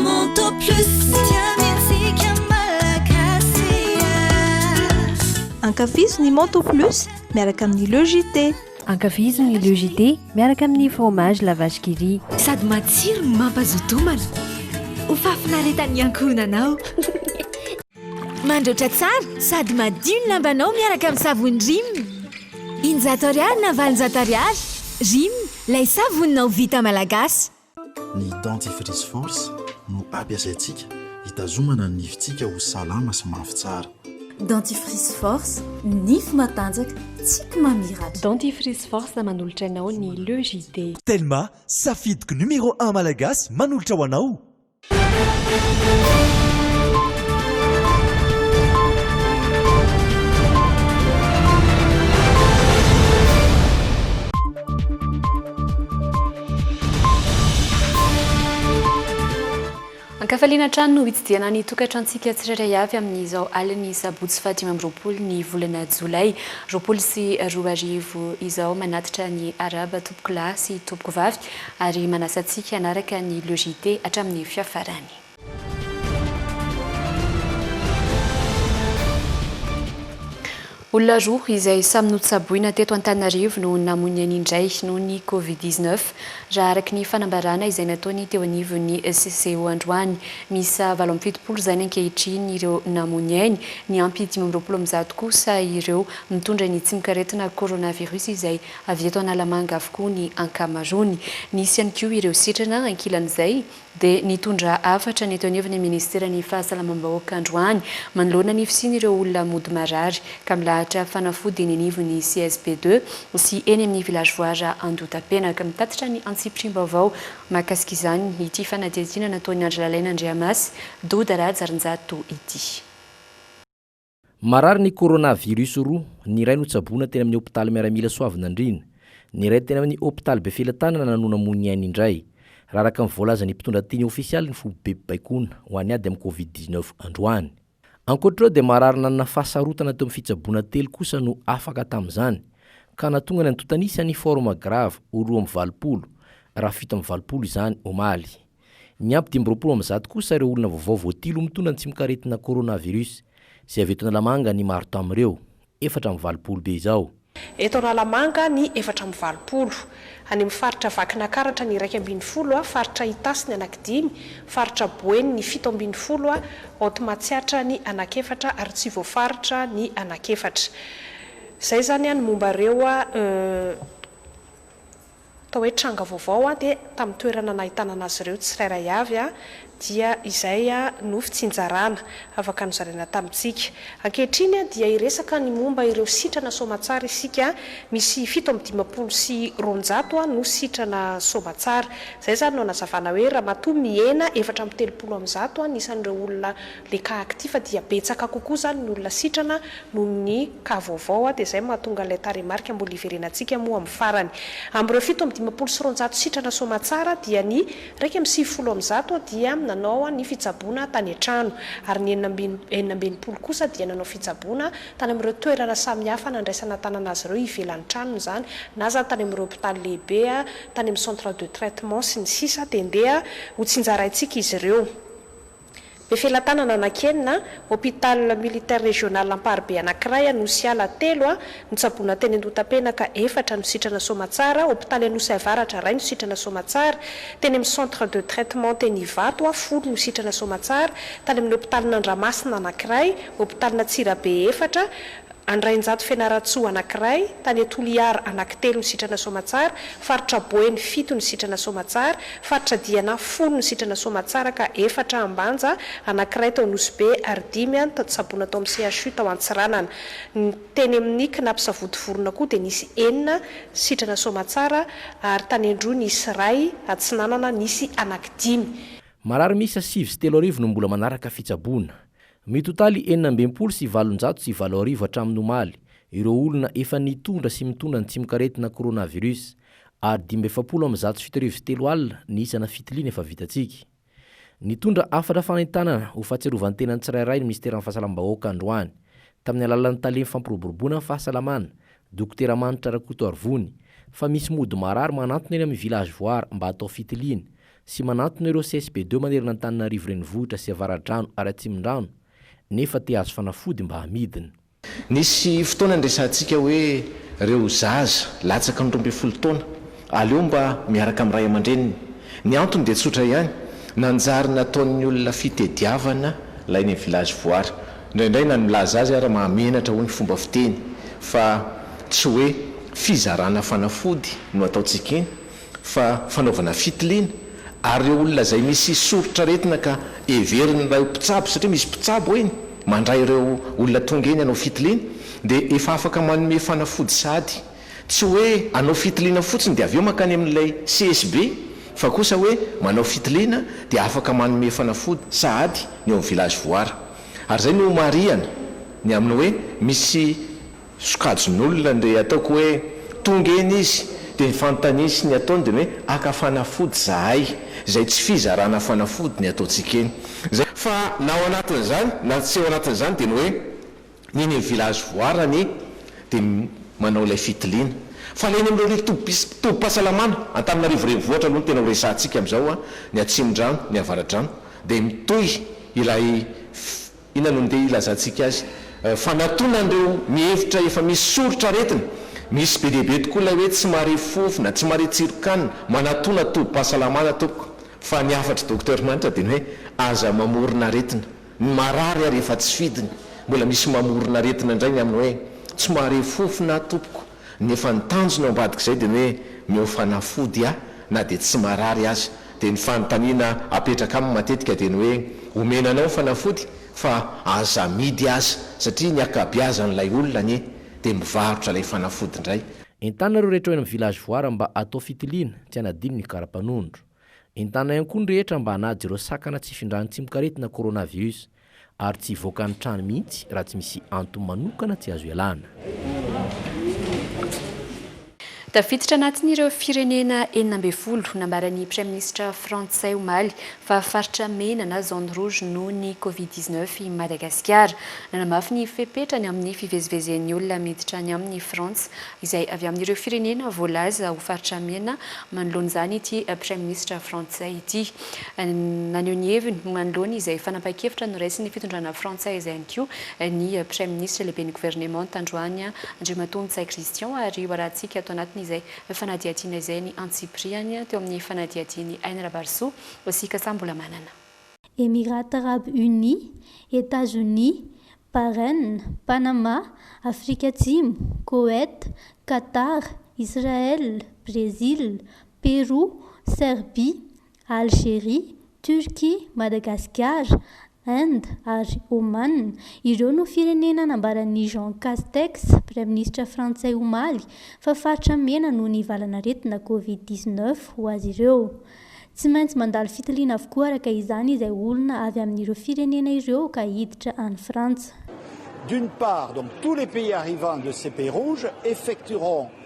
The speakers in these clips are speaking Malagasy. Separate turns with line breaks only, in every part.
Monto plus dia mihetsika malagasy ah.
Ankafizo ny Monto plus miaraka amin'ny Le JT. Ankafizo ny
Le JT miaraka amin'ny fromage la vache qui rit. Sady matsiro no
mampazoto homana. Ho fahafinaretan'ny ankohonanao. Mandraotra tsara sady madio ny lambanao miaraka amin'ny savony Rim. Injato ariary na valonjato ariary. Rim, lay savoninao vita malagasy. Ny
dentifrice force no ampiasaintsika hitazomana ny nifintsika ho salama sy mafy tsara. Dentifrice
force, nify matanjaka, tsiky mamiratra. Dentifrice force
manolotra anao ny Le JD. Telma,
safidiko numéro un malagasy manolotra ho anao!
Ankafaliana hatrany no hitsidihana ny tokantrantsika tsirairay avy amin'izao alin'ny sabotsy fahadimy amby roapolo ny volana jolay roapolo sy roa arivo izao manatitra ny arahaba tompokolahy sy tompokovavy Ary manasa antsika hanaraka ny logite hatramin'ny fiafarany. Olona roa izay samy notsaboina teto Antananarivo no namoy ny ainy indray noho ny Covid dix neuf, raha araka ny fanambarana izay nataony teo anivon'ny SCO androany. Miisa valo amby fitopolo izany ankehitriny ireo namoy ny ainy, niampy dimy amby roapolo amin'ny zato kosa ireo mitondra ny tsimokaretina coronavirus izay Avy eto Analamanga avokoa ny ankamaroany. Nisy ihany koa ireo sitrana ankilan'izay dia nitondra hafatra ny teo anivon'ny ministeran'ny fahasalamam-bahoaka androany manoloana ny fisian'ireo olona mody marary ka milahatra fanafody eny anivon'ny CSB deux sy eny amin'ny vilazoara Andotapenaka. Mitatitra ny antsipiriam-baovao mahakasika izany ity fanadihadiana nataon'i Andry Lalaina Andriamasy, Doda Rajarinjato ity.
Marary ny coronavirus roa, ny iray notsaboina teny amin'ny hopitaly miaramila Soavinandriana, ny iray teny amin'ny hopitaly Befelatanana no namoy ny ainy indray, raha araka ny voalazan'ny mpitondra teny ofisialy ny foibe baikona ho any ady amin'ny covid dix-neuf androany. Ankoatra ireo dia marary nanana fahasarotana teo amin'ny fitsaboana telo kosa no afaka tamin'izany, ka nahatonga ny antontanisa ny forme grave ho roa amby valopolo, raha fito amby valopolo izany omaly. Niampy dimy amby roapolo amin'ny zato kosa ireo olona vaovao voatily ho mitondra ny tsimokaretina coronavirus, izay avy eto Analamanga ny maro tamin'ireo, efatra amby valopolo be izao. Eto Analamanga
ny efatra amby valopolo, any amin'ny faritra Vakinakaratra ny iraika ambin'ny folo, faritra Itasy ny anankidimy, faritra Boeny ny fito ambin'ny folo, Haute Matsiatra ny anakefatra ary tsy voafaritra ny anakefatra. Izay izany ny momba ireo. Atao hoe tranga vaovao aho dia tamin'ny toerana nahitana an'azy ireo tsirairay avy dia izay no fitsinjarana afaka nozaraina tamintsika. Ankehitriny dia hiresaka ny momba ireo sitrana soamatsara isika, misy fito amby dimampolo sy roanjato no sitrana soamatsara. Izay izany no anazavana hoe ramatoa mihena efatra amby telopolo amin'ny zato ny isan'ireo olona le cas actif fa dia betsaka kokoa zany ny olona sitrana noho ny cas vaovao a, de zay mahatonga ilay tarehimarika mbola hiverenantsika moa amin'ny farany. Amin'ireo fito amby dimampolo sy roanjato sitrana soamatsara dia ny iraika amby sivifolo amin'ny zato dia nanao ny fitsaboana tany an-trano ary ny enina amby enina amby enimpolo kosa dia nanao fitsaboana tany amin'ireo toerana samihafa nandraisana tanana azy ireo ivelan'ny tranony izany na izany tany amin'ireo hopitaly lehibe a, tany amin'ny centre de traitement sy ny sisa dia ndeha hotsinjaraintsika izy ireo. Be felatanana anankienina, Hôpital militaire régional amparibe anankiray Anosy Ala telo no tsaboina teny Andohatapenaka, efatra no sitrana Soamatsara, Hôpitaly Anosy Avaratra iray no sitrana Soamatsara, teny amin'ny centre de traitement teny Ivato folo no sitrana Soamatsara, tany amin'ny hôpitalin'Andramasina anankiray, hôpitalina Antsirabe efatra, Andrainjato Fianarantsoa anankiray, tany Toliara anankitelo ny sitrana soamatsara, faritra Boeny fito ny sitrana soamatsara, faritra Diana folo ny sitrana soamatsara ka efatra Ambanja, anankiray tao Nosy-Be ary dimy an tato Sabona tao amin'ny CHU tao Antsiranana. Ny teny amin'ny Cnaps Savodivorona koa dia nisy enina sitrana soamatsara ary tany Androy nisy iray, Atsinanana nisy anankidimy. Marary miisa
sivy sy telo arivo no mbola manaraka fitsaboana. Mitotaly enina amby enimpolo sy valonjato sy valo arivo hatramin'ny omaly ireo olona efa nitondra sy mitondra ny tsimokaretina coronavirus ary dimy amby efapolo amby zato sy fito arivo sy telo alina ny isana fitiliana efa vitantsika. Nitondra hafatra fanentanana ho fahatsiarovantena ny tsirairay ny minisiteran'ny Fahasalamam-bahoaka androany, tamin'ny alalan'ny tale fampiroboroboana ny fahasalamana, Dokotera Manitra Rakotoarivony, fa misy mody marary manantona eny amin'ny Village Voire mba hatao fitiliana, sy manantona ireo CSPD manerana Antananarivo Renivohitra sy Avaradrano ary Atsimondrano nefa te hahazo fanafody mba hamidiny. Nisy
fotoana niresahantsika hoe ireo zaza latsaka ny roa ambin'ny folo taona aleo mba miaraka amin'ny ray aman-dreniny. Ny antony dia tsotra ihany, nanjary nataon'ny olona fitediavana ilay any amin'ny village voara. Indraindray na ny milaza azy ary mahamenatra hoy ny fomba fiteny fa tsy hoe fizarana fanafody no ataontsika iny fa fanaovana fitiliana ary ireo olona izay misy soritr'aretina ka heverin'ny iray mpitsabo satria misy mpitsabo eny mandray ireo olona tonga eny hanao fitiliana dia efa afaka manome fanafody sahady tsy hoe hanao fitiliana fotsiny dia avy eo mankany amin'ilay CSB fa kosa hoe manao fitiliana dia afaka manome fanafody sahady ny ao amin'ny village voara ary izay no marihana ny amin'ny hoe misy Sokajin'olona ange ataoko hoe tonga eny izy dia ny fanontaniasny ataony dia ny hoe haka fanafody zahay, izay tsy fizarana fanafody ny ataontsika eny. Izay. Fa na ao anatin'izany na tsy ao anatin'izany dia ny hoe ny eny amin'ny village voarany dia manao ilay fitiliana. Fa ilay eny amin'ireo rivo tobis tobim-pahasalamana, Antananarivo renivohitra aloha no tena ho resahantsika amin'izao, ny Atsimondrano, ny Avaradrano, dia mitohy ilay fi. Inona no ndeha hilazantsika azy? Fanatona an'ireo mihevitra efa misy soritra aretina. Misy be dia be tokoa ilay hoe tsy mahare fofona, tsy mahare tsiron-kanina, manatona tobim-pahasalamana tompoko. Fa ny hafatr'i Docteur manitra dia ny hoe aza mamorona aretina. Ny marary ary efa tsy fidiny. Mbola misy mamorona aretina indray ny amin'ny hoe tsy mahare fofona aho tompoko. nefa ny tanjony ao ambadik'izay dia ny hoe meo fanafody aho na dia tsy marary aza, dia ny fanontaniana apetraka aminy matetika dia ny hoe omena anao fanafody fa aza amidy aza satria ny akabiazan'ilay olona anie dia mivarotra ilay fanafody indray. Entanina ireo rehetra eo
amin'ny village voire mba atao fitiliana, tsy hanadino ny karapanondro. Entanina ihany koa ny rehetra mba hanaja ireo sakana tsy hifindran'ny tsimokaretina coronavius, Ary tsy hivoaka ny trano mihitsy raha tsy misy antony manokana tsy azo ialana.
Tafiditra anatin'ireo firenena enina ambin'ny folo nambaran'ny Praiminisitra frantsay omaly fa faritra mena na zone rouge noho ny Covid dix neuf i Madagasikara. Nanamafy ny fepetra ny amin'ny fivezivezen'ny olona miditra any amin'i Frantsa izay avy amin'ireo firenena voalaza ho faritra mena manoloana izany ity Praiminisitra frantsay ity. Naneho ny heviny manoloana izay fanapahan-kevitra noraisin'ny fitondrana frantsay izay ihany koa ny Praiminisitra lehiben'ny governemanta androany Andriamatoa Ntsay Christian ary hoarahantsika ato anatin'izay fanadihadiana izay ny antsipirihany teo amin'ny fanadihadian'i Aina Rabarisoa sy Kasa Mbolamanana. Emirats
Arabes Unis, Etazonia, Bahrain, Panama, Afrika Atsimo, Koweït, Qatar, Israël, Brezila, Pérou, Serbie, Algérie, Turquie, Madagasikara, Inde ary Oman, ireo no firenena nambaran'i Jean Castex, praiminisitra frantsay omaly, fa faritra mena noho ny valan'aretina Covid dix-neuf ho azy ireo. Tsy maintsy mandalo fitiliana avokoa araka izany izay olona avy amin'ireo firenena ireo ka hiditra any Frantsa. D'une
part, donc, tous les pays arrivants de ces pays rouges effectueront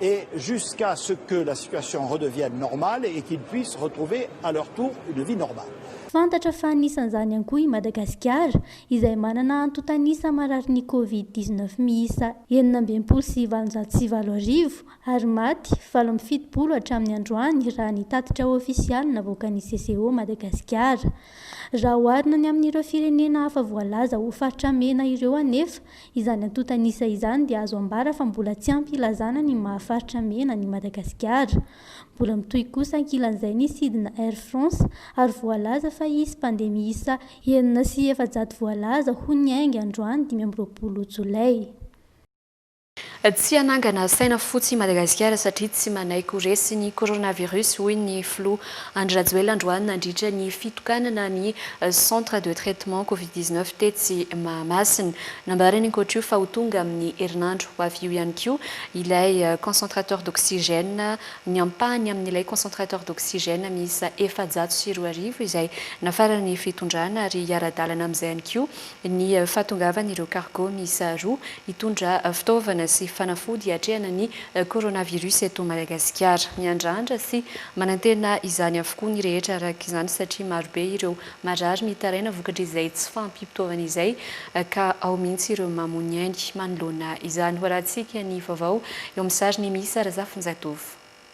et jusqu'à ce que la situation redevienne normale et qu'ils puissent retrouver à leur tour une vie normale. Fantatra fa
anisan'izany ihany koa i Madagasikara, izay manana antontan'isa mararin'ny Covid dix neuf miisa enina amby enimpolo sy valonjato sy valo arivo ary maty valo amby fitopolo hatramin'ny androany raha ny tatitra ofisialy navoakan'ny CCO Madagasikara. Raha oharina ny amin'ireo firenena hafa voalaza ho faritra mena ireo anefa Izany antontan'isa izany dia azo ambara fa mbola tsy ampy hilazana ny maha faritra mena an'i Madagasikara. Mbola mitohy kosa ankilan'izay ny sidina Air France ary voalaza fa hisy mpandeha miisa enina sy efajato voalaza ho niainga androany dimy amby roapolo jolay.
Tsy hanangana saina fotsy i Madagasikara satria tsy manaiky ho resy ny coronavirus, hoy ny filoha Andry Rajoelina androany nandritra ny fitokanana ny Centre de traitement covid dix neuf tetsy Mahamasina. Nambarany ankoatra io fa ho tonga amin'ny herinandro ho avy io ihany koa ilay concentrateur d'oxygène, ny ampahany amin'ilay concentrateur d'oxygène miisa efajato sy roa arivo izay nafaran'ny fitondrana ary hiara-dalana amin'izay ihany koa ny fahatongavan'ireo cargo miisa roa hitondra fitaovana sy fanafody hiatrehana ny coronavirus eto Madagasikara. Miandrandra sy manantena izany avokoa ny rehetra araka izany satria marobe ireo marary mitaraina vokatr'izay tsy fahampiam-pitaovana izay ka ao mihitsy ireo mamoa ny ainy manoloana izany. Ho arahantsika ny vaovao eo amin'ny sariny Miisa Razafinjatovo.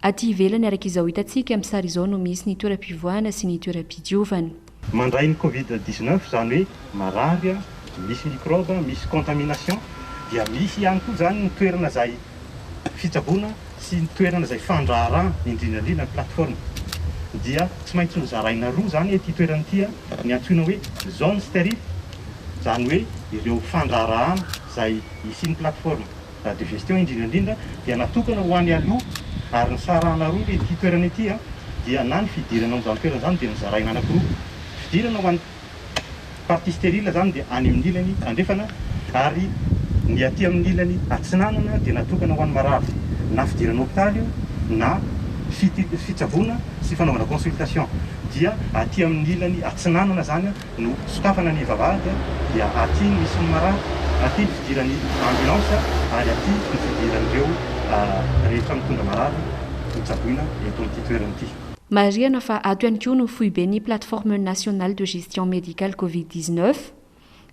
Aty ivelany araka izao hitantsika amin'ny sary izao no misy ny toeram-pivoahana sy ny toeram-pidiovana. Mandray ny
covid dix neuf izany hoe marary, misy microbe, misy contamination, dia misy ihany koa izany ny toerana izay fitsaboana sy ny toerana izay fandraharahana, indrindra indrindra ny plateforme. Dia tsy maintsy nozaraina roa izany ity toerana ity, ny antsoina hoe zone sterile, izany hoe ireo fandraharahana izay hisian'ny plateforme. La digestion indrindra indrindra dia natokana ho any aloha ary nisarahana roa le ity toerana ity a, dia na ny fidirana ao amin'izany toerana izany dia nozaraina anakiroa, fidirana ho an'ny partie stérile izany dia any amin'ny ilany andrefana ary ny aty amin'ny ilany atsinanana dia natokana ho an'ny marary, na fidirana hopitaly io na fitsaboana sy fanaovana consultation dia aty amin'ny ilany atsinanana izany a, No sokafana ny vavahady dia aty ny sinomarà, aty ny fidiran'ny ambulance ary aty ny fidiran'ireo rehetra mitondra marary ho tsaboina eto amin'ity toerana ity. Marihana fa
ato ihany koa no foiben'ny Plateforme Nationale de Gestion Médicale Covid dix-neuf.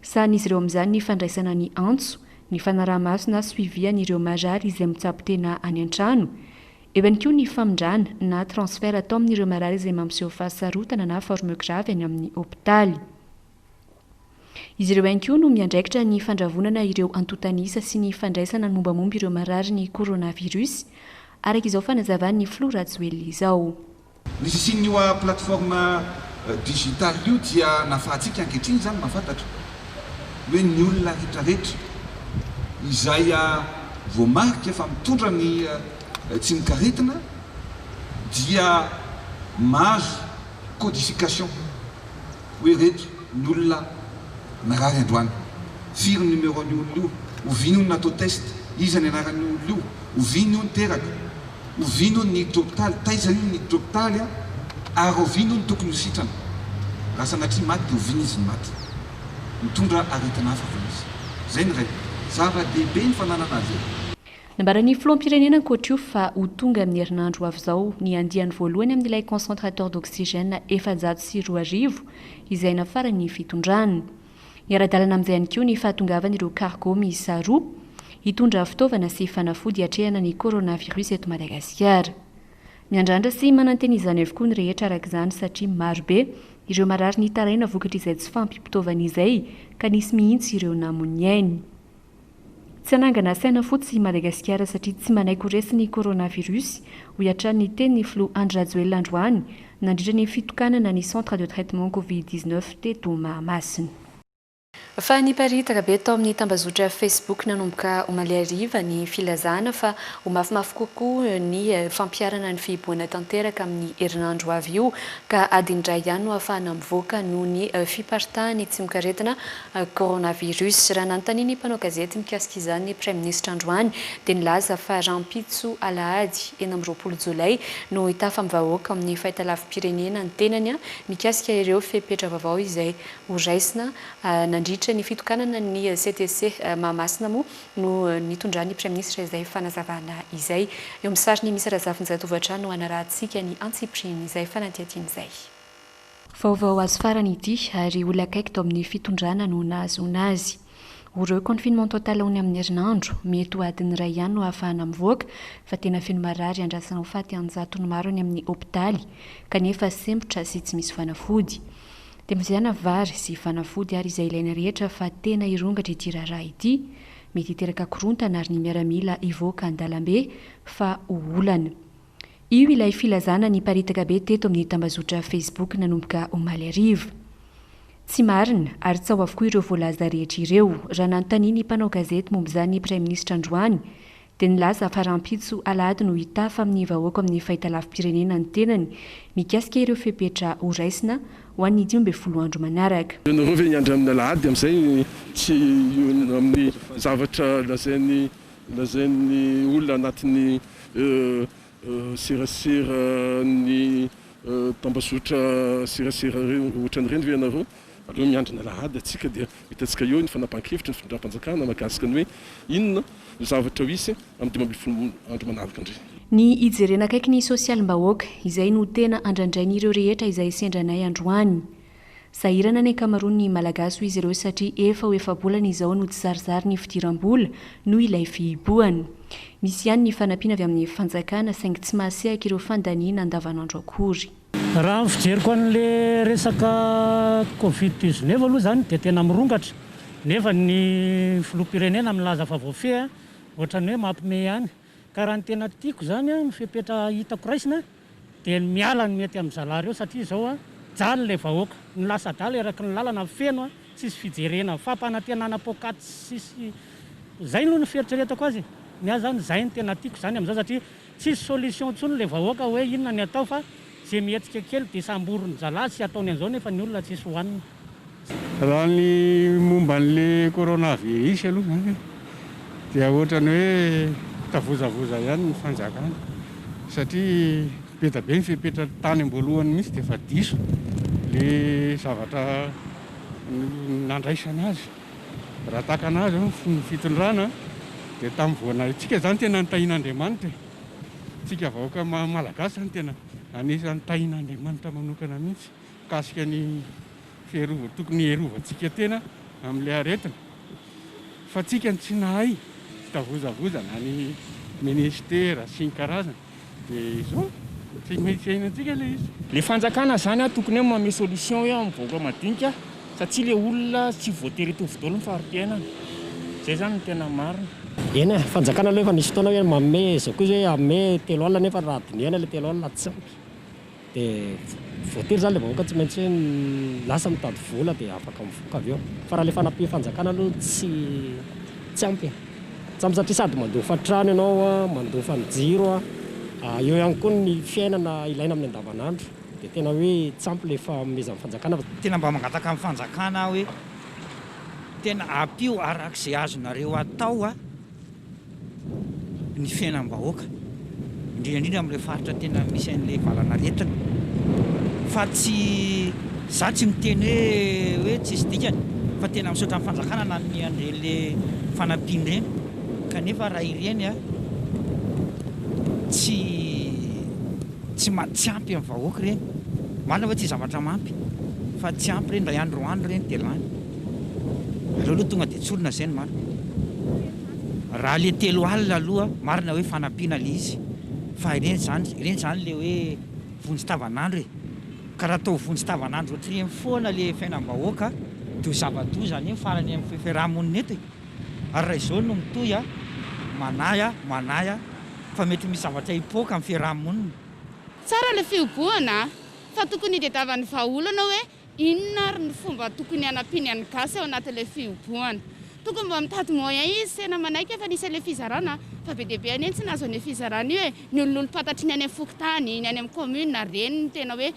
Sahanin'izy ireo amin'izany ny fandraisana ny antso, ny fanaraha-maso na suivi an'ireo marary izay mitsabo tena any an-trano. Eo ihany koa ny famindrana na transfert atao amin'ireo marary izay mampiseho fahasarotana na forme grave any amin'ny hopitaly. Izy ireo ihany koa no miandraikitra ny fandravonana ireo antontan'isa sy ny fandraisana ny mombamomba ireo mararin'ny coronavirus, araka izao fanazavan'ny filoha Rajoelina izao. Ny fisian'io
plateforme digital io dia nahafahantsika ankehitriny izany mahafantatra hoe ny olona retraretra izay voamarika fa mitondra ny tsimok'aretina dia mahazo codification. hoe ireto ny olona narary androany, firy ny numéro an'io olona io, oviana hono ny natao test, iza ny anaran'io olona io, oviana hono teraka, oviana hono ny hiditra hopitaly, taiza hono ny hiditra hopitaly a, ary oviana hono tokony ho sitrana, raha sanatria maty dia oviana izy ny maty, mitondra aretina hafa ve izy, izay ny iray, zava-dehibe ny fananana azy e. Nambaran'ny
filoham-pirenena ankoatra io fa ho tonga amin'ny herinandro ho avy izao ny andiany voalohany amin'ilay concentrateur d'oxygène efajato sy roa arivo izay nafaran'ny fitondrany. Miara-dalana amin'izay ihany koa ny fahatongavan'ireo cargo miisa roa hitondra fitaovana sy fanafody hiatrehana ny coronavirus eto Madagasikara. Miandrandra sy manantena izany avokoa ny rehetra araka izany satria marobe ireo marary nitaraina vokatr'izay tsy fahampiam-pitaovana izay ka nisy mihitsy ireo namoy ny ainy. Tsy hanangana saina fotsy i Madagasikara satria tsy manaiky ho resy ny coronavirus, hoy hatrany ny tenin'ny filoha Andry Rajoelina androany, nandritra ny fitokanana ny Centre de traitement Covid dix-neuf teto Mahamasina. Fa niparitaka be tao amin'ny tambazotra Facebook nanomboka omaly hariva ny filazana fa ho mafimafy kokoa ny fampiharana ny fihibohana tanteraka amin'ny herinandro ho avy io, ka adiny iray ihany no ahafahana mivoaka noho ny fiparitahan'ny tsimokaretina Coronavirus. Raha nanontaniana ny mpanao gazety mikasika izany ny Praiminisitra androany dia nilaza fa rahampitso alahady enina amby roapolo jolay no hitafa amin'ny vahoaka ao amin'ny fahitalavi-pirenena ny tenany mikasika ireo fepetra vaovao izay horaisina nandritra ny fitokanana ny CTC Mahamasina moa no nitondran'ny Praiminisitra izay fanazavana izay. Eo amin'ny sariny misy Razafinjatovo hatrany no hanarahantsika ny antsipirihiny izay fanadihadiana izay. Vaovao azo farany ity ary olona akaiky tao amin'ny fitondrana no nahazoana azy. Ho re confinement total aony amin'ny herinandro, mety ho adiny iray ihany no ahafahana mivoaka fa tena feno marary andrasana ho faty an-jatony maro any amin'ny hopitaly kanefa sempotra sy tsy misy fanafody. Temozehana vary sy fanafody ary izay ilaina rehetra fa tena hirongatra ity raharaha ity, mety hiteraka korontana ary ny miaramila hivoaka an-dalambe fa ho olana. Io ilay filazana niparitaka be teto amin'ny tambazotra Facebook nanomboka omaly hariva. Tsy marina ary tsaho avokoa ireo voalaza rehetra ireo. Raha nanontania ny mpanao gazety momba izany ny Praiminisitra androany dia nilaza fa rahampitso alahady no hitafa amin'ny vahoaka ao amin'ny fahitalavi-pirenena ny tenany mikasika ireo fepetra ho raisina ho an'ny dimy ambin'ny folo andro manaraka. Ianareo ve hiandry amin'ny
alahady amin'izay tsy hino amin'ny zavatra lazain'i Lazain'ny olona anatin'ny serasera ny tambazotra serasera ohatran'ireny ve ianareo? Aleo miandry ny alahady antsika dia hitantsika eo ny fanapahan-kevitry ny fitondram-panjakana mahakasika ny hoe inona no zavatra ho hisy amin'ny dimy ambin'ny folo andro manaraka indray. Ny hijerena
akaiky ny sosialim-bahoaka, izay no tena andrandrain'ireo rehetra izay sendranay androany. Sahirana ny ankamaroan'ny Malagasy hoy izy ireo satria efa ho efa-bolana izao no tsy zarizary ny fidiram-bola noho ilay fihibohana. Misy ihany ny fanampiana avy amin'ny fanjakana saingy tsy mahasehaka ireo fandaniana andavanandro akory. Raha ny fijeriko
an'le resaka covid dix neuf aloha zany dia tena mirongatra nefa ny filoham-pirenena milaza fa voafehy ohatran'ny hoe mampime ihany ka raha ny tena tiako zany ny fepetra hitako raisina Dia ny miala no mety amin zalahy reo satria zao a jaly le vahoaka no lasa adala eraky ny lalana feno a tsisy fijerena fampanantenana poakaty tsisy zay no ny fieritreretako azy e ny ahy zany zay no tena tiako zany amizao satria tsisy solution tsony le vahoaka hoe inona ny atao fa ze mihetsika kely de samborin zalahy sy ataony anzao nefa ny olona tsisy hoanina. Raha
ny momba an'le coronavirus aloha zany an, dia ohatrany hoe tavozavoza ihany ny fanjakana satria be dia be ny fepetra tany am-boalohany mihitsy dia efa diso le zavatra nandraisana azy. Raha takana azy ny fitondrana dia tamin'ny vao na itsika zany tena ny tahin'Andriamanitra e, tsika vahoaka malagasy zany tena anisan'ny tahin'Andriamanitra manokana mihitsy. mikasika ny fiarovana tokony hiarovantsika tena amin'ilay aretina fa tsika no tsy nahay fitavozavozana na ny ministera sy ny karazany dia izao tsy maintsy iainantsika ilay izy. Le fanjakana zany
a tokony hoe manome solution hoe amin'ny vahoaka madinika satsia le olona tsy voatery hitovy daholo ny fari-piainana. Zay zany no tena marina. Eny e, fanjakana
aloha efa nisy fotoana hoe manome zao koa izy hoe hanome telo alina nefa raha dinihana le telo alina tsy ampy. Dia voatery izany ilay vahoaka tsy maintsy hoe lasa mitady vola dia afaka mivoaka avy eo. Fa raha ilay fanapihan-fanjakana aloha tsy tsy ampy. Tsy ampy satria sady mandofa trano ianao, mandofa ny jiro, eo ihany koa ny fiainana ilaina amin'ny andavanandro. Dia tena hoe tsy ampy ilay fanomezan'ny fanjakana. Tena mba mangataka amin'ny
fanjakana aho hoe tena ampio araka izay azonareo atao. ny fiainam-bahoaka, indrindra indrindra amin'ilay faritra tena misy an'ilay valanaretina. Fa tsy za tsy miteny hoe hoe tsisy dikany fa tena misaotra ny fanjakana nanome an'ireny le fanampiana ireny. Kanefa raha ireny a tsy Tsy ma tsy ampy amin'ny vahoaka ireny. Marina ve tsy zavatra mampy fa tsy ampy ireny indray andro roa andro ireny dia lany. Aleo aloha tonga dia tsorina izay no marina. Raha ilay telo alina aloha marina hoe fanampiana ilay izy fa ireny izany ireny izany ilay hoe vonjy tavan'andro e. Ka raha atao vonjy tavan'andro ohatr'ireny foana ilay fiainam-bahoaka dia ho zava-doza anie ny farany amin'ny fi fiaraha-monina eto e. Ary raha izao no mitohy a! Manahy a! Manahy a! fa mety misy zavatra hipoaka amin'ny fiaraha-monina. Tsara ny
fihobohana a! Fa tokony hitadiavan'ny vahaolana hoe inona ary ny fomba tokony hanampiany an'ny gasy ao anatin'ilay fihobohana. Tokony mba mitady moyen izy, tena manaiky efa nisy an'ilay fizarana fa be dia be anie ny tsy nahazo an'io fizarana io e! Ny olon'olom-pantatry ny any amin'ny fokontany, ny any amin'ny commune ary ireny no tena hoe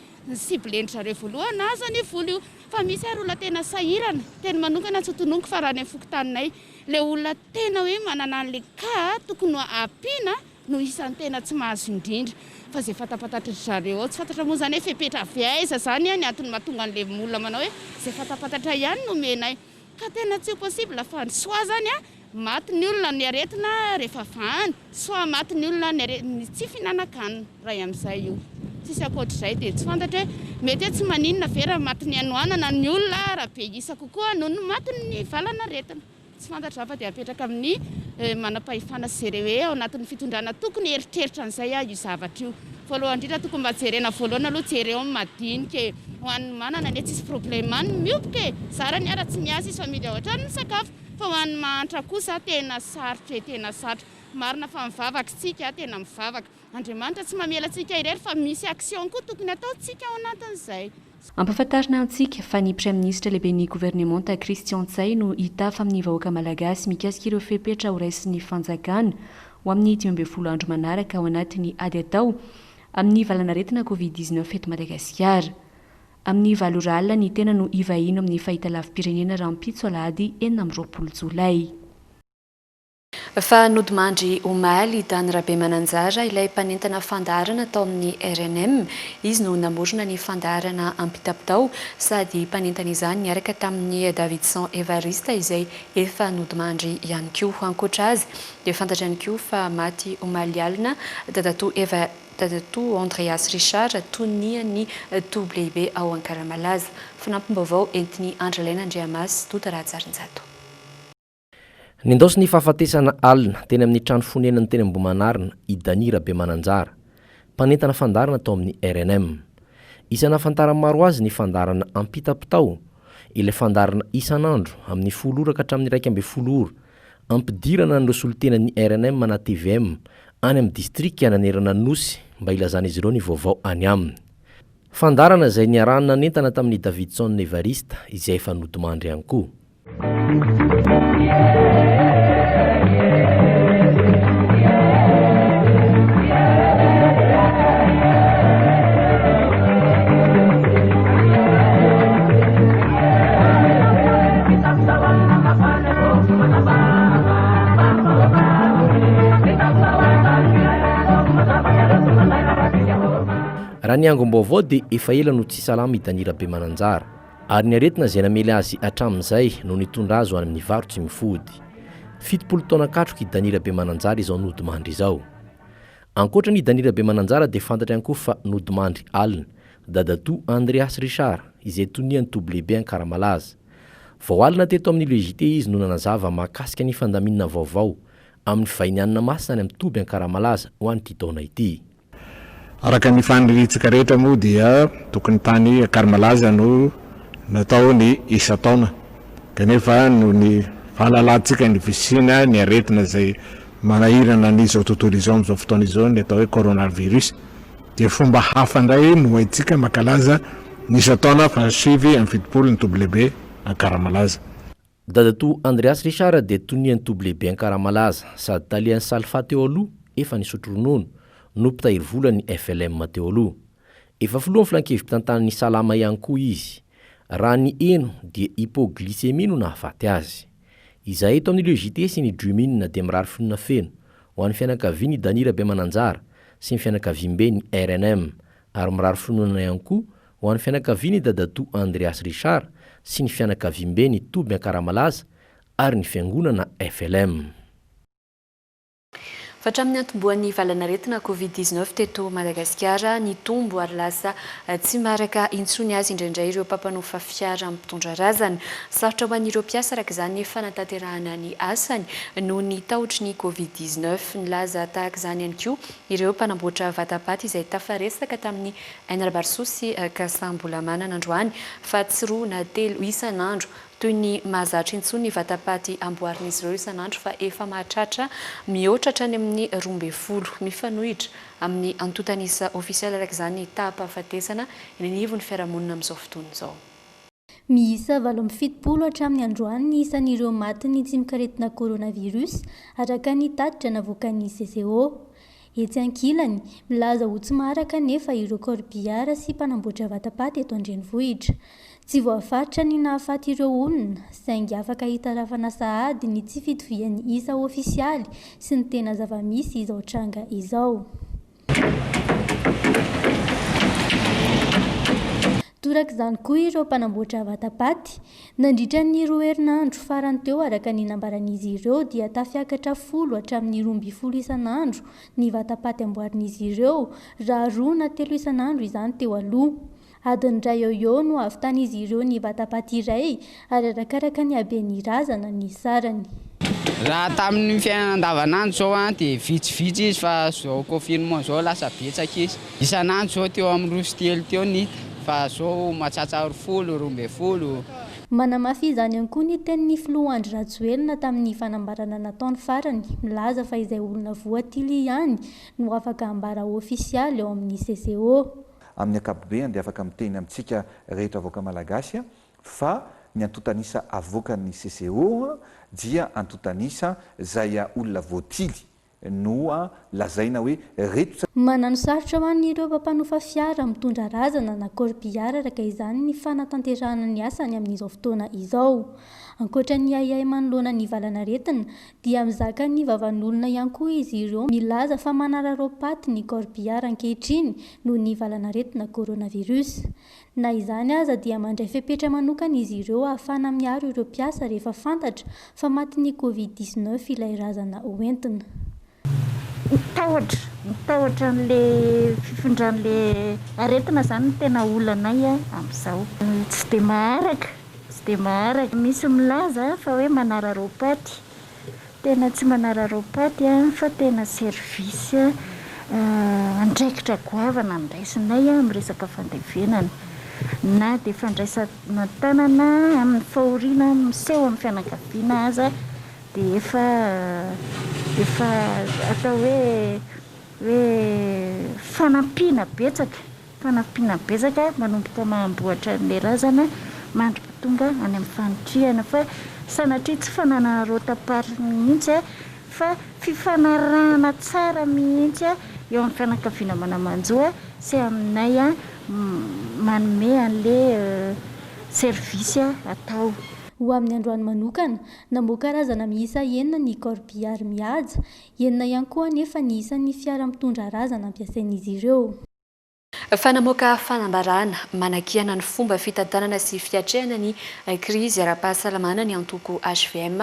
cible-ndry zareo voalohany nahazo an'io vola io. Fa misy ary olona tena sahirana, teny manokana tsy ho tononiko fa raha any amin'ny fokontaninay, Le olona tena hoe manana anle cas tokony ampiana no isan'ny tena tsy mahazo indrindra fa zay fantapantatr'dry zareo ao tsy fantatra moa zany hoe fepetra avy aiza zany an ny antony mahatonga anle olona manao hoe zay fantampantatra ihany no omenay ka tena tsy possible fa ny soa zany an maty ny olona amin'ny aretina rehefa vahana. Sao maty ny olona ny ny tsy fihinanan-kanina ray amin'izay io. Tsisy ankoatr'izay dia tsy fantatra hoe mety hoe tsy maninona ve raha maty ny hanoanana ny olona raha be isa kokoa noho ny maty ny valan'aretina. Tsy fantatra afa dia apetraka amin'ny manam-pahefana sy jereo hoe ao anatin'ny fitondrana tokony hieritreritra an'izay aho io zavatra io. Voalohany indrindra tokony mba jerena voalohany aloha jereo ny madinika e! Ho an'ny manana anie tsisy problema ny mioboka e! Zara ny ara tsy miasa izy fa midy ao an-trano ny sakafo. Fa ho an'ny mahantra kosa tena sarotra e, tena sarotra. Marina fa mivavaka isika, tena mivavaka. Andriamanitra tsy mamela antsika irery fa misy action koa tokony ataontsika ao anatin'izay. Ampafantarina
antsika fa ny Praiminisitra Lehiben'ny Governemanta Christian Ntsay no hitafa amin'ny vahoaka Malagasy mikasika ireo fepetra horaisin'ny fanjakana ho amin'ny dimy ambin'ny folo andro manaraka ao anatin'ny ady atao amin'ny valanaretina Covid dix-neuf eto Madagasikara. Amin'ny valo ora alina ny tena no hivahiny ao amin'ny fahitalavi-pirenena rahampitso alahady enina amby roapolo jolay. Fa nodimandry omaly i Dany Rabemananjara, ilay mpanentana fandaharana tao amin'ny rnm. Izy no namorona ny fandaharana Ampitapitao sady mpanentana izany niaraka tamin'i Davidson Evariste izay efa nodimandry ihany koa. Ankoatra azy dia fantatra ihany koa fa maty omaly alina dadatoa Eva Dadatoa Andreas Richard tonian'ny toby lehibe ao Ankaramalaza. Fanampim-baovao entin'i Andrialaina Andriamasy, Dota Rahajarinjato.
Nindaosi ny fahafatesana alina teny amin'ny trano fonenany teny Ambohimanarina i Dany Rabemananjara, mpanentana fandaharana tao amin'ny rnm. Isa nahafantaran'ny maro azy ny fandaharana Ampitapitao, ilay fandaharana isan'andro amin'ny folo ora ka hatramin'ny iraika ambin'ny folo ora Ampidirana an'ireo solontenan'ny rnm na tvm any amin'ny distrika nanerana Anosy mba hilazan'izy ireo ny vaovao any aminy. Fandaharana izay niarahany nanentana tamin'i Davidson Evariste izay efa nodimandry ihany koa. Raha ny angom-baovao dia efa ela no tsy salama i Dany Rabemananjara, ary ny aretina izay namely azy hatramin'izay no nitondra azy ho any amin'ny varo tsy mifody. Fitopolo taona katroka i Dany Rabemananjara izao nodimandry izao. Ankoatra an'i Dany Rabemananjara dia fantatra ihany koa fa nodimandry alina, dadatoa Andreas Richard izay tonian'ny toby lehibe Ankaramalaza. Vao alina teto amin'ny Le JT izy no nanazava mahakasika ny fandaminana vaovao amin'ny vahiny hanina masina any amin'ny toby Ankaramalaza ho an'ity taona ity. Araka
ny faniriantsika rehetra moa dia tokony tany Ankaramalaza no natao ny isan-taona kanefa noho ny fahalalantsika ny fisiana ny aretina izay manahirana an'izao tontolo izao amin'izao fotoana izao ny atao hoe coronavirus, Dia fomba hafa indray no haintsika mankalaza ny isan-taona fahasivy amby fitopolo ny Tobilebe Ankaramalaza. Dadatoa
Andreas Richard dia tonian'ny Tobilebe Ankaramalaza, sady talian'ny Salfa teo aloha, efa nisotro ronono, no mpitahiry vola ny FLM teo aloha. Efa filohan'ny Filan-kevi-pitantanan'ny Salama ihany koa izy. Raha ny heno dia hypoglycémie no nahafaty azy. Izahay eto amin'ny Le JT sy ny Dream In dia mirary fonona feno ho an'ny fianakavian' i Dany Rabemananjara sy ny fianakaviam-beny rnm ary mirary fononana ihany koa ho an'ny fianakavian' i Dadatoa Andreas Richard sy ny fianakaviam-beny Toby Ankaramalaza ary ny Fiangonana FLM.
Hatramin'ny niantombohan'ny valanaretina Covid dix-neuf teto Madagasikara, nitombo ary lasa tsy maharaka intsony azy indraindray ireo mpampanofa fiara mpitondra razana. Sarotra ho an'ireo mpiasa araka izany ny fanatanterahana ny asany noho ny tahotry ny Covid dix-neuf. Nilaza tahaka izany ihany koa ireo mpanamboatra vatapaty izay tafaresaka tamin'ny Enrbarso sy Kasambolamana nandroany fa tsy roa na telo isan'andro toy ny mahazatra intsony ny vatapaty amboarin'izy ireo isan'andro fa efa mahatratra mihoatra hatrany amin'ny roa ambin'ny folo. Mifanohitra amin'ny antontan'isa ofisialy araka izany ny taham-pahafatesana eny anivon'ny fiarahamonina amin'izao fotoana izao. Miisa
valo amby fitopolo hatramin'ny androany ny isan'ireo matin'ny tsimokaretina coronavirus, araka ny tatitra navoakan'ny CCO. Etsy ankilany, milaza ho tsy maharaka anefa ireo corbillard sy mpanamboatra vatapaty eto an-drenivohitra. Tsy voafaritra ny nahafaty ireo olona, saingy afaka hitarafana sahady ny tsy fitovian'ny isa ofisialy sy ny tena zava-misy izao tranga izao. Torak'izany koa ireo mpanamboatra vatapaty. Nandritra ny roa herinandro farany teo araka ny nambaran'izy ireo dia tafiakatra folo hatramin'ny roa ambin'ny folo isan'andro ny vatapaty amboarin'izy ireo raha roa na telo isan'andro izany teo aloha. Adiny iray eo eo no havitan'izy ireo ny vatapaty iray ary arakaraka ny haben'ny razana ny sarany. Raha
tamin'ny fiainana andavanandro izao dia vitsivitsy izy fa izao confinement izao lasa betsaka izy. Isan'andro zao teo amin'ny roa sy telo teo ny hita fa zao matsatsa roa folo, roa ambin'ny folo. Manamafy
izany ihany koa ny tenin'ny filoha Andry Rajoelina tamin'ny fanambarana nataony farany, milaza fa izay olona voatily ihany no afaka hambara ofisialy ao amin'ny CCO. Amin'ny ankapobeany
dia afaka miteny amintsika rehetra vahoaka malagasy fa ny antontan'isa avoakan'ny CCO dia antontan'isa izay olona voatily Noa lazaina hoe reto tsy. Manano sarotra ho
an' ireo mpampanofa fiara mitondra razana na corbillard araka izany ny fanatanterahana ny asany amin' izao fotoana izao. Ankoatra ny ahiahy manoloana ny valanaretina dia mizaka ny vavan' olona ihany koa izy ireo milaza fa manararaopaty ny corbillard ankehitriny noho ny valanaretina coronavirus. Na izany aza dia mandray fepetra manokana izy ireo ahafahana miaro ireo mpiasa rehefa fantatra fa matin'ny Covid dix neuf ilay razana hoentina. Ny tahotra,
ny tahotra an'ilay fifindran'ilay aretina izany no tena olanay amin'izao. Tsy dia maharaka, tsy dia maharaka. Misy milaza fa hoe manararaopaty, Tena tsy manararao paty fa tena service andraikitra goavana no raisinay amin'ny resaka fandevenana. Na dia fandraisana an-tanana amin'ny fahoriana miseho amin'ny fianakaviana aza dia efa efa atao hoe hoe fanampiana betsaka. Fanampiana betsaka manomboka mahamboatra an'ilay razana mandry tonga any amin'ny fanitrihana fa sanatria tsy fananana rotam-paritra mihitsy fa fifanarahana tsara mihitsy eo amin'ny fianakaviana manamanjo sy aminay manome an'ilay servisy atao. Ho amin'ny androany
manokana, namoaka razana miisa enina ny Corbillard mihaja, enina ihany koa anefa ny isan'ny fiara mitondra razana ampiasain'izy ireo. Fa
namoaka fanambarana manakiana ny fomba fitantanana sy fiatrehana ny krizy ara-pahasalamana ny antoko hvm,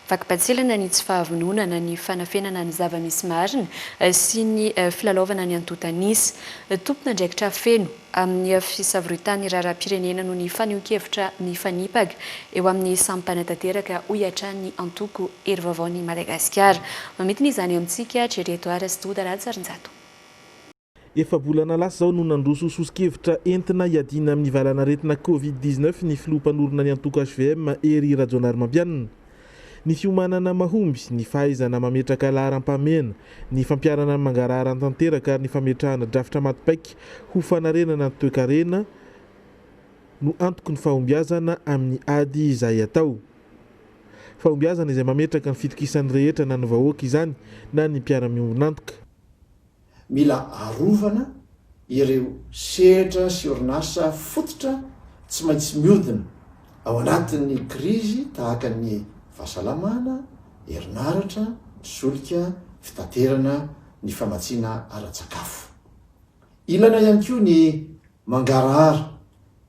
vakim-patsilana ny tsy fahavononana ny fanafenana ny zava-misy marina sy ny filalaovana ny antontan'isa. Tompon'andraikitra feno amin'ny fisavoritany raharaham-pirenena noho ny fanehoan-kevitra mifanipaka eo amin'ny samy mpanatanteraka, hoy hatrany ny antoko Hery Vaovao Ny Madagasikara. Mamidina izany amintsika Jerry Edouard sy Douda Ratsarinjato.
Efa-bolana lasa izao no nandroso soso-kevitra entina hiadiana amin'ny valanaretina covid dix neuf ny filoha mpanorina ny antoko hvm, Hery Rajaonarimampianina. Ny fiomanana mahomby, ny fahaizana mametraka laharam-pahamehana, ny fampiharana ny mangarahara tanteraka ary ny fametrahana drafitra maty paika ho fanarenana ny toekarena no antoky ny fahombiazana amin'ny ady izay atao. Fahombiazana izay mametraka ny fitokisan'ny rehetra na ny vahoaka izany na ny mpiara-miombon'antoka.
Mila arovana ireo sehatra sy orinasa fototra tsy maintsy miodina ao anatin'ny krizy tahaka ny fahasalamana, herinaratra, ny solika, fitaterana, ny famatsiana ara-tsakafo. Ilana ihany koa ny mangarahara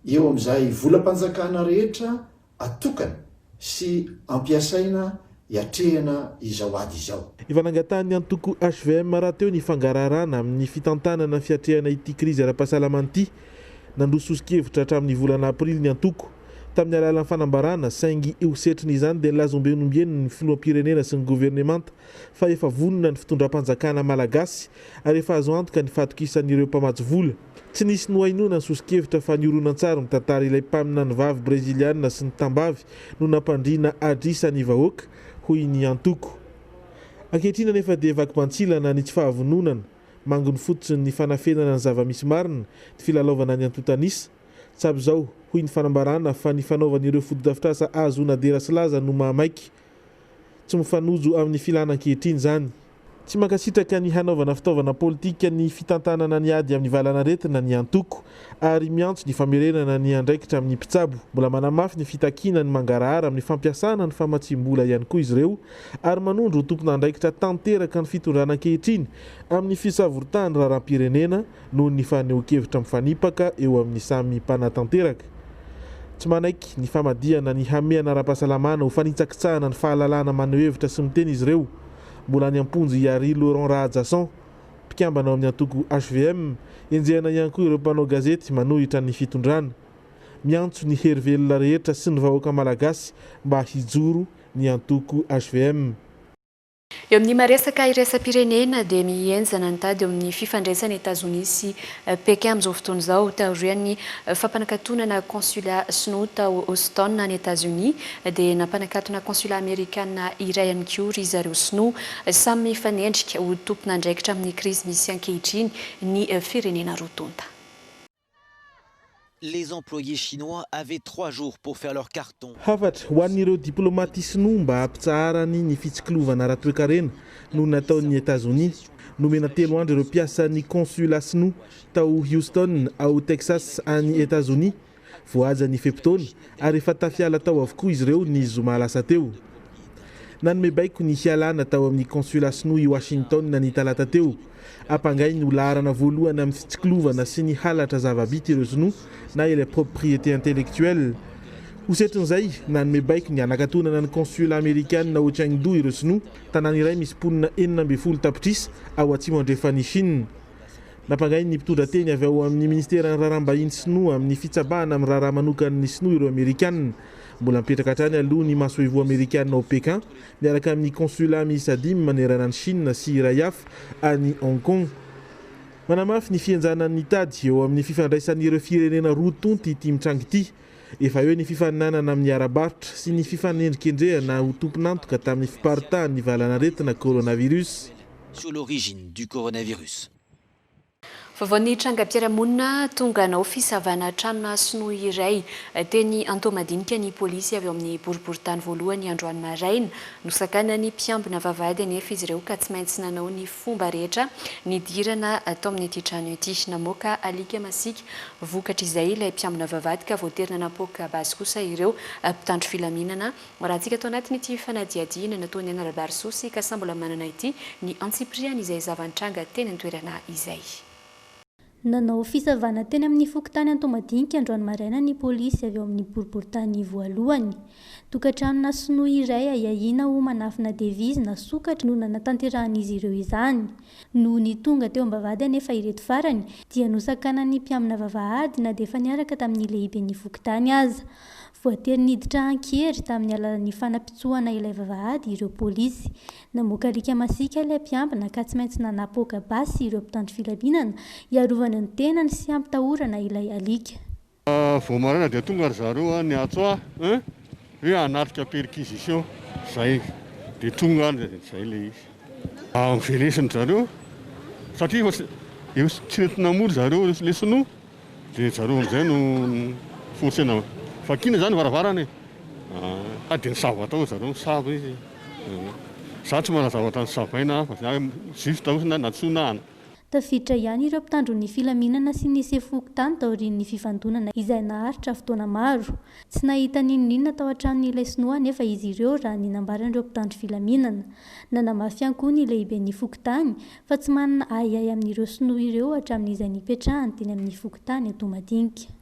eo amin'izay volam-panjakana rehetra atokana sy ampiasaina hiatrehana izao ady izao. Efa nangatahan'ny antoko
hvm rahateo ny fangaraharahana amin'ny fitantanana ny fiatrehana ity krizy ara-pahasalamana ity. Nandroso soso-kevitra hatramin'ny volana aprily ny antoko, tamin'ny alalan'ny fanambarana, saingy ho setrin'izany dia nilaza ombieny ombieny ny filoham-pirenena sy ny governemanta fa efa vonona ny fitondram-panjakana malagasy ary efa azo antoka ny fatokisan'ireo mpamatsy vola. Tsy nisy nohainoana ny soso-kevitra fa ny horonantsary mitantara ilay mpaminany vavy Breziliana sy ny tambavy no nampandriana adrisa ny vahoaka, hoy ny antoko. Ankehitriny anefa dia vakibants'ilana ny tsy fahavononana, mangony fotsiny ny fanafenana ny zava-misy marina ny filalaovana ny antontan'isa. Tsapy izao, hoy ny fanambarana, fa ny fanaovan'ireo fotodrafitrasa ahazoana dera sy laza no mahamaiky. Tsy mifanojo amin'ny filàna ankehitriny izany. Tsy mankasitraka ny hanaovana fitaovana politika ny fitantanana ny ady amin'ny valanaretina ny antoko, ary miantso ny famerenana ny andraikitra amin'ny mpitsabo. Mbola manamafy ny fitakiana ny mangarahara amin'ny fampiasana ny famatsiam-bola ihany koa izy ireo, ary manondro ho tompon'andraikitra tanteraka ny fitondrana ankehitriny amin'ny fisavoritahany raharaham-pirenena, noho ny fanehoan-kevitra mifanipaka eo amin'ny samy mpanatanteraka. Tsy manaiky ny famadihana ny hamehana ara-pahasalamana ho fanitsakitsahana ny fahalalahana maneho hevitra sy miteny izy ireo. Mbola any am-ponja i Harry Laurent Rahajason, mpikambana ao amin'ny antoko hvm. Enjehina ihany koa ireo mpanao gazety manohitra ny fitondrana. Miantso ny hery velona rehetra sy ny vahoaka malagasy mba hijoro ny antoko hvm.
Eo amin'ny maha-resaka iraisam-pirenena dia mihenjana ny tady eo amin'ny fifandraisan'i Etazonia sy Pékin amin'izao fotoana izao. Taorian'ny fampanakatonana consulat sinoa tao Houston any Etazonia dia nampanakatona consulat amerikana iray ihany koa ry zareo sinoa. Samy mifanendrika ho tompon'andraikitra amin'ny krizy misy ankehitriny ny firenena roa tonta.
Les employés chinois avaient trois jours pour faire leur carton. Hafatra ho an'ireo
diplaomaty sinoa mba hampitsaharany ny fitsikilovana ara-toekarena no nataon'i Etazonia. Nomena telo andro ireo mpiasan'ny consulat sinoa tao Houston, ao Texas, any Etazonia. Voahaja ny fe-potoana ary efa tafiala tao avokoa izy ireo ny zoma lasa teo. Nanome baiko ny hialana tao amin'ny consulat sinoa i Washington ny talata teo. Ampangainy ho laharana voalohany amin'ny fitsikilovana sy ny halatra zava-bita ireo sinoa na ilay propriété intellectuelle. Ho setrin'izay, nanome baiko ny hanakatonana ny consulat amerikana ao Chengdu ireo sinoa, tanàna iray misy mponina enina ambin'ny folo tapitrisa ao atsimo andrefan'i Shina. Nampangain'ny mpitondra teny avy ao amin'ny Ministeran'ny Raharaham-bahiny sinoa amin'ny fitsabahana amin'ny raharaha manokan'ny sinoa ireo amerikana. Mbola mipetraka hatrany aloha ny masoivoho amerikana ao Pékin miaraka amin'ny Consulat miisa dimy manerana an'i Shina sy iray hafa any Hong Kong. Manamafy ny fihenjanan'ny tady eo amin'ny fifandraisan'ireo firenena roa tonta ity mitranga ity. Efa eo ny fifaninanana amin'ny ara-barotra sy ny fifanendrikendrehana ho tompon'antoka tamin'ny fiparitahan'ny valan'aretina coronavirus. sur l'origine
du coronavirus.
Vaovao ny trangam-piarahamonina, tonga nanao fisavana tranona sinoa iray teny Antohomadinika ny polisy avy ao amin'ny boriborintany voalohany androany maraina. Nosakanan'ny mpiambina vavahady anefa izy ireo ka tsy maintsy nanao ny fomba rehetra nidirana tao amin'ity trano ity. Namoaka alika masiaka vokatr'izay ilay mpiambina vavahady ka voatery nanapoaka basy kosa ireo mpitandro filaminana. Marantsika ato anatin'ity fanadihadiana nataon'i Anarabarisousy ka samy mbola manana ity ny antsipiriany izay zava-nitranga teny an-toerana izay.
Nanao fisavana teny amin'ny fokontany Antohomadinika androany maraina ny polisy avy ao amin'ny boriborintany voalohany. Tokantranona sinoa iray ahiahiana ho manafina devizy na sokatra no nanatanterahan'izy ireo izany. Nony tonga teo am-bavahady anefa ireto farany dia nosakanan'ny mpiamina vavahady na dia efa niaraka tamin'ny lehiben'ny fokontany aza. Voatery niditra an-kery tamin'ny alalan'ny fanapitsohana ilay vavahady ireo polisy. Namoaka alika masiaka ilay mpiambina ka tsy maintsy nanapoaka basy ireo mpitandro filaminana hiarovana ny tenany sy hampitahorana ilay alika. Vao maraina
dia tonga ry zareo an, niantso ahy an, hoe hanatrika perquisition zay dia tonga an, zay ilay izy. Novelesiny ry zareo satria efa tsy nety namory zareo ilay sinoa. Dia zareo amin'izay no forcena vakiana izany ny varavarana e! Hay dia nisava tao zareo, nisava izy. Izaho tsy manana zavatra nosavaina hafa, izaho hoe juste hoe na- natsoinahana. Tafiditra ihany ireo
mpitandro ny filaminana sy ny sefo fokontany taorian'ny fifandonana izay naharitra fotoana maro. Tsy nahita n'inon'inona tao an-tranon'ilay sinoa anefa izy ireo raha ny nambaran'ireo mpitandro filaminana. Nanamafy ihany koa ny lehiben'ny fokontany fa tsy manana ahiahy amin'ireo sinoa ireo hatramin'izay nipetrahany teny amin'ny fokontany Toamadinika.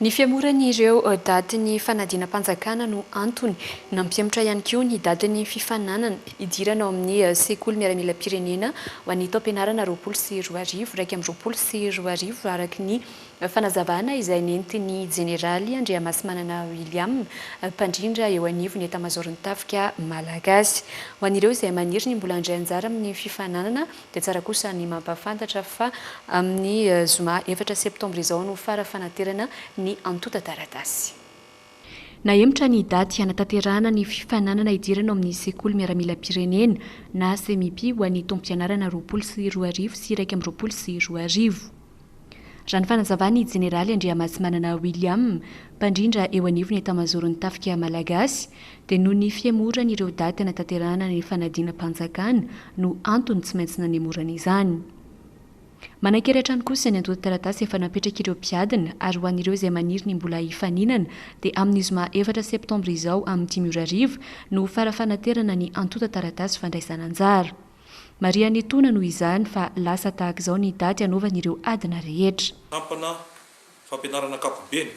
Ny fihemoran'ireo datin'ny fanadinam-panjakana no antony. Nampihemotra ihany koa ny datin'ny fifaninanana hidirana ao amin'ny sekoly miaramilam-pirenena ho an'ny taom-pianarana roapolo sy roa arivo iraika amby roapolo sy roa arivo, araka ny Fanazavana izay nentin'ny Jeneraly Andriamasimanana William, mpandrindra eo anivon'ny Etamazaoron'ny Tafika Malagasy. Ho an'ireo izay maniry ny mbola handray anjara amin'ny fifaninanana dia tsara kosa ny mampahafantatra fa amin'ny zoma efatra septambra izao no fara fanaterana ny antontan-taratasy. Nahemotra ny daty hanatanterahana ny fifaninanana hidirana ao amin'ny Sekoly Miaramilam-pirenena na Semipi ho an'ny taom-pianarana roapolo sy roa arivo sy iraika amby roapolo sy roa arivo. Raha ny fanazavan'ny Jeneraly Andriamasimanana William, mpandrindra eo anivon'ny Etamazoron'ny Tafika Malagasy, dia noho ny fihemoran'ireo daty hanatanterahana ny fanadinam-panjakana no antony tsy maintsy nanemorana izany. Manan-kery hatrany kosa ny antontan-taratasy efa napetrak'ireo mpiadina ary ho an'ireo izay maniry ny mbola hifaninana dia amin'ny zoma efatra septambra izao amin'ny dimy ora hariva no ho fara-fanaterana ny antontan-taratasy fandraisan'anjara. Marihan'ny etona noho izany fa lasa tahaka izao ny daty anaovany ireo adina rehetra. Sampana
fampianarana ankapobeny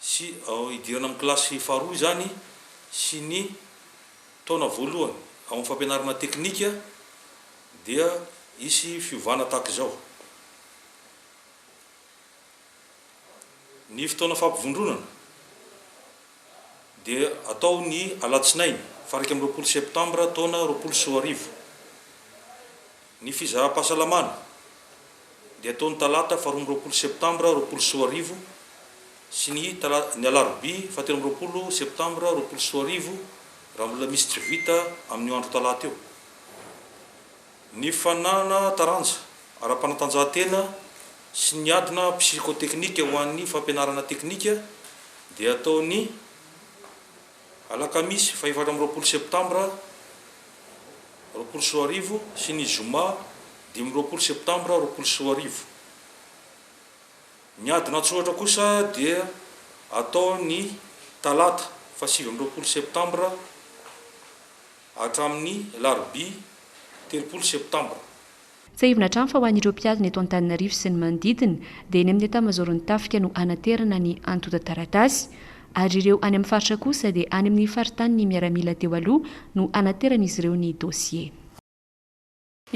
sy ao idirana amin'ny kilasy faharoa izany sy ny taona voalohany ao amin'ny fampianarana teknika dia hisy fiovana tahaka izao. Ny fotoana fampivondronana. dia atao ny alatsinainy faha iraika amby roapolo septambra taona roapolo sy roa arivo. Ny fizaham-pahasalamana dia atao ny talata faha roa amby roapolo septambra roapolo sy roa arivo sy ny ny alarobia faha telo amby roapolo septambra roapolo sy roa arivo raha mbola misy tsy vita amin'io andro talata io. Ny fananana taranja ara-panatanjahantena sy ny adina psikoteknika ho an'ny fampianarana teknika dia hatao ny alakamisy fahefatra amby roapolo septambra roapolo sy roa arivo sy ny zoma dimy amby roapolo septambra roapolo sy roa arivo. Ny adina an-tsoratra kosa dia hatao ny talata fahasivy amby roapolo septambra. hatramin'ny alarobia telopolo septambra. Tsiahivina hatrany
fa ho an'ireo mpiadina eto Antananarivo sy ny manodidina dia eny amin'ny etamazaoron'ny tafika no hanaterana ny antontan-taratasy ary ireo any amin'ny faritra kosa dia any amin'ny faritanin'ny miaramila teo aloha no hanateran'izy ireo ny dosie.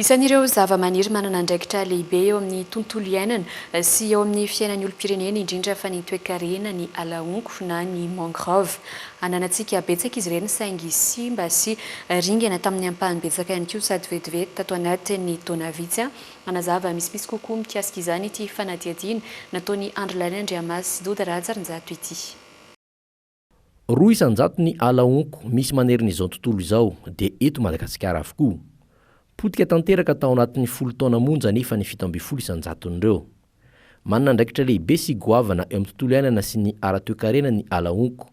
Isan'ireo zavamaniry manana andraikitra lehibe eo amin'ny tontolo iainana sy eo amin'ny fiainan'ny olom-pirenena indrindra fa ny toekarena ny alahonko na ny mangrove. Ananantsika betsaka izy ireny saingy simba sy ringana tamin'ny ampahany betsaka ihany koa sady vetivety tato anatin'ny taona vitsy. Hanazava misimisy kokoa mikasika izany ity fanadihadiana nataon'i Andry Laly Andriamasy sy Doda Rahajarinjato ity.
Roa isan-jato ny ala honko misy manerin'izao tontolo izao, dia eto Madagasikara avokoa. Potika tanteraka tao anatin'ny folo taona monja anefa ny fito ambin'ny folo isan-jaton'ireo. Manana andraikitra lehibe sy goavana eo amin'ny tontolo iainana sy ny ara-toekarena ny ala honko,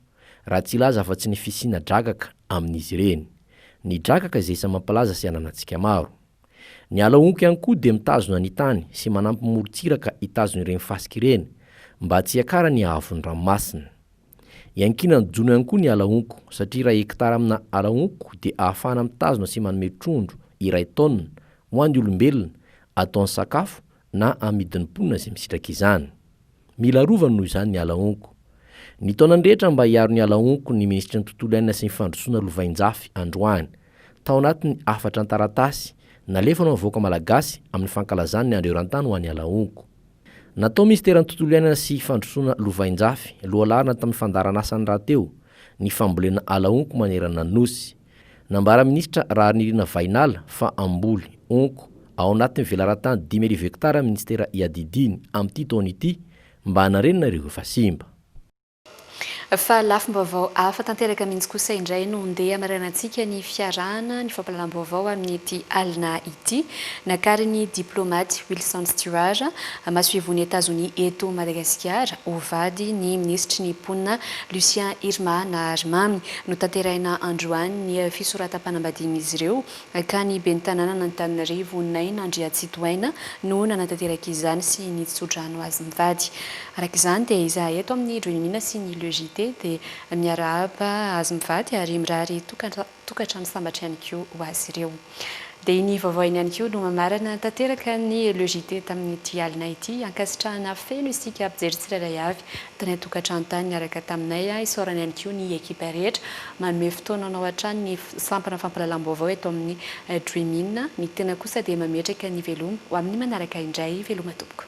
raha tsy hilaza afa-tsy ny fisiana drakaka amin'izy ireny. Ny drakaka izay isan'ny mampalaza sy ananantsika maro. Ny ala honko ihany koa dia mitazona ny tany sy manampy morontsiraka hitazona ireny fasika ireny mba tsy hiakarany haavon'ny ranomasina. Iankiana ny jono ihany koa ny ala honko satria iray hekitara amina ala honko dia ahafahana mitazona sy manome trondro iray taonina ho an'ny olombelona ataony sakafo na amidin'ny mponina izay misitraka izany. Mila arovany noho izany ny ala honko. Ny taonany rehetra mba hiaro ny ala honko ny Minisitry ny Tontolo iainana sy ny Fandrosoana lovainjafy androany. Tao anatin'ny hafatra an-taratasy nalefanao ny vahoaka malagasy amin'ny fankalazany ny Andro Eran-tany ho an'ny ala honko. Natao Minisiteran'ny Tontolo iainana sy Fandrosoana lovainjafy lohalaharana tamin'ny fandaharanasany rahateo ny fambolena ala honko manerana ny Nosy. Nambaran'ny minisitra Raharinirina Vahinala fa hamboly, honko, ao anatin'ny velaran-tany dimy arivo hektara ny minisitera iadidiany amin'ity taona ity mba hanarenana ireo efa simba.
Fa lafim-baovao hafa tanteraka mihitsy kosa indray no ndeha hamarihanantsika ny fiarahana ny fampahalalam-baovao amin'ity alina ity, nakarin'ny diplaomaty Wilson Stewart, masoivohon'i Etazonia eto Madagasikara, ho vady ny minisitry ny mponina Lucien Irma Naharimamy. Notanterahina androany ny fisoratam-panambadian'izy ireo ka ny ben'ny tanànan'Antananarivo, Naina Andriatsitohaina no nanatanteraka izany sy nitso-drano azy mivady. Araka izany dia izahay eto amin'ny Dreamina sy ny Le JT dia miarahaba azy mivady ary mirary tokantrano sambatra ihany koa ho azy ireo. Dia iny vaovao iny ihany koa no mamarana tanteraka ny Le JT tamin'ity alina ity. Ankasitrahana feno isika mpijery tsirairay avy tany an-tokantrano tany niaraka taminay. Isaorana ihany koa ny ekipa rehetra manome fotoananao hatrany ny sampana fampahalalam-baovao eto amin'ny Dream In. Ny tena kosa dia mametraka ny veloma ho amin'ny manaraka indray. Veloma tompoko.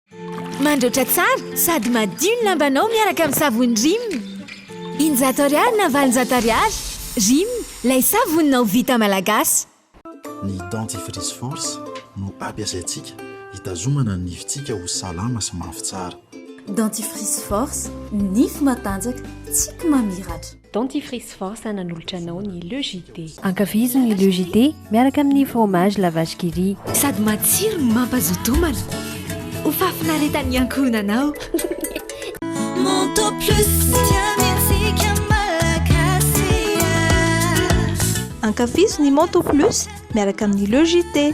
Mandraotra
tsara sady madio ny lambanao miaraka amin'ny savony Rim. Injato ariary na valonjato ariary. Rim, lay savoninao vita malagasy. Ny
Dentifrice Force no ampiasaintsika hitazomana ny nifintsika ho salama sy mafy tsara. Dentifrice
Force, nify matanjaka, tsiky mamiratra. Dentifrice force
nanolotra anao ny Le JD. Ankafizo ny Le JD miaraka amin'ny fromage la vache qui rit. Sady matsiro no
mampazoto homana. Ho fahafinaretan'ny ankohonanao. Manteau plus dia mendrika malagasy
ah.
Ankafizo ny
Manteau plus miaraka amin'ny Le JD.